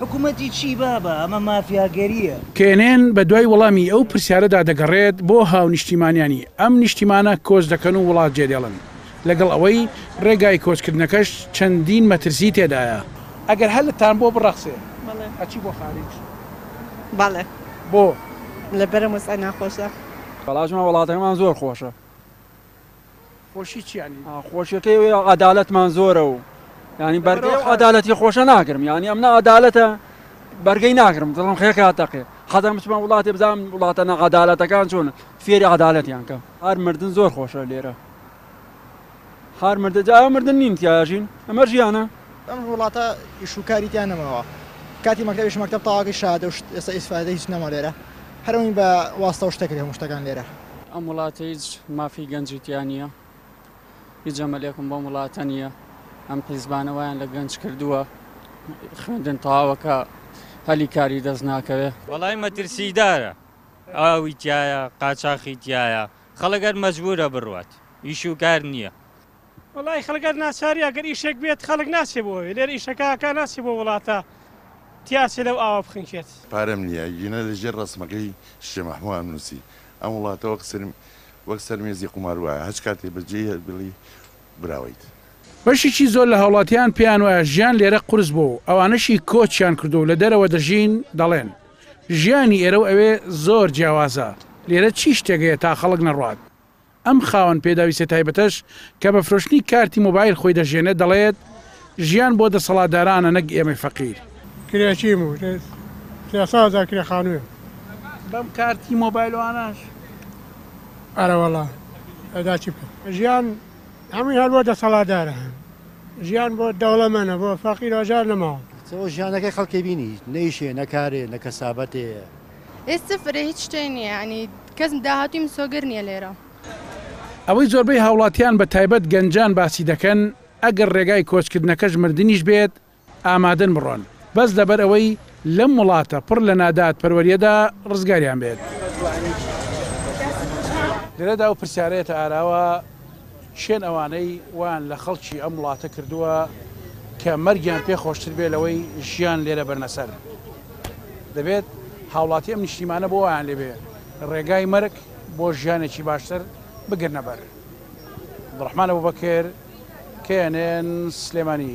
حکومەتی چی بابە ئەمە مافیاگەریە. کێنێن بە دوای وەڵامی ئەو پرسیارەدا دەگەڕێت بۆ هاونیشتیمانیانی ئەم نیشتیمانە کۆچ دەکەن و وڵات جێدێڵن لەگەڵ ئەوەی ڕێگای کۆچکردنەکەش چەندین مەترسی تێدایە. ئەگەر هەلتان بۆ بڕەخسێ بەڵێ ئەچی بۆ خاریج؟ بەڵێ بۆ؟ لەبەرم وەزعە ناخۆشە. بەڵاجمان وەڵاتەکەمان زۆر خۆشە. خۆشی چی یانی؟ خۆشیەکەی ئەوەیە عەدالەتمان زۆرە و یانی بەرگەی لەبەرەو ئەو خە- عەدالەتی خۆشە ناگرم یانی ئەم نەعەدالەتە بەرگەی ناگرم دڵم خێکا تەقێ حەزەکەم بچمە وڵاتێ بزانم وڵاتە نەعەدالەتەکان چۆنن فێری عەدالەتیان کەم هەر مردن زۆر خۆشە لێرە هەر مردن جا ئەوە مردن نین تیا ئەژین ئەمە ژیانە ئەم وڵاتە ئیش و کاری تیا نەماوە کاتی مەکتەبیش مەکتەب تەواو کرد شەهادە و شت ئێستا ئیسفادەی هیچ نەما لێرە هەر ئەوین بە واسطە و شتە کرد هەموو شتەکان لێرە. ئەم وڵاتە هیچ مافی گەنجی تیا نیە هیچ ئەمەلێکم بۆم وڵاتە نیە ئەم حیزبانە وایان لە گەنج کردووە خوێندن تەواوەکە هەلی کاری دەست ناکەوێ. وەڵای مەترسیدارە ئاوی تیایە قاچاخی تیایە خەڵک هەر مەجبورە بڕوات ئیش و کار نیە. وەڵایی خەڵک هەر ناچاری ئەگەر ئیشێک بێت خەڵک ناچێ بۆ ئەوێ لێرە ئیشەکە ئەکا ناچێ بۆ وڵاتە تیاچێ لەو ئاوە بخنکێت. پارەم نیە ئەگینا لە ژێر ڕەسمەکەی شێ مەحموو ئەم نووسی ئەم وڵاتە وەک سەر وەک سەر مێزی قومار وایە هەچ کاتێ بە جێی هەر بڵی براوەیت. بەشیکی زۆر لە هاوڵاتیان پێیان وایە ژیان لێرە قورس بووە و ئەوانەشی کۆچیان کردووە و لە دەرەوە دەژین دەڵێن ژیانی ئێرە و ئەوێ زۆر جیاوازە لێرە چی شتێک هەیە تا خەڵک نەڕوات. ئەم خاوەن پێداویستیە تایبەتەش کە بە فرۆشتنی کارتی مۆبایل خۆی دەژێنێت دەڵێت، ژیان بۆ دەسەڵاتدارانە نەک ئێمەی فەقیر. کرێچیم و سێ سەد هەزار کرێ خانوویم. بەم کارتی مۆبایل و ئاناش. ئەرەوەڵا ئەدا چی بکەم. ژیان هەمووی هەر بۆ دەسەڵاتدارە. ژیان بۆ دەوڵەمەنە بۆ فەقیر ئەوجار نەماوە. ئەو ژیانەکەی خەڵکێ بینی نە ئیشێ نە کارێ نە کەسابەتێ. ئێ سفرە هیچ شتێ نیە یانی کەس داهاتووی مسۆگەر نیە لێرە. ئەوەی زۆربەی هاوڵاتیان بە تایبەت گەنجان باسی دەکەن ئەگەر ڕێگای کۆچکردنەکەش مردنیش بێت ئامادەن بڕۆن بەس لەبەر ئەوەی لەم وڵاتە پڕ لە ناداد پەروەریەدا ڕزگاریان بێت لێرەدا ئەو پرسیارە یەتە ئاراوە. کێن ئەوانەی وایان لە خەڵکی ئەم وڵاتە کردووە کە مەرگیان پێ خۆشتر بێ لەوەی ژیان لێرە بەرنە سەر؟ دەبێت هاوڵاتی ئەم نیشتیمانە بۆ وایان لێبێ ڕێگای مەرگ بۆ ژیانێکی باشتر بگرنە بەر. عبدالرحمن ابوبکر knn سلێمانی.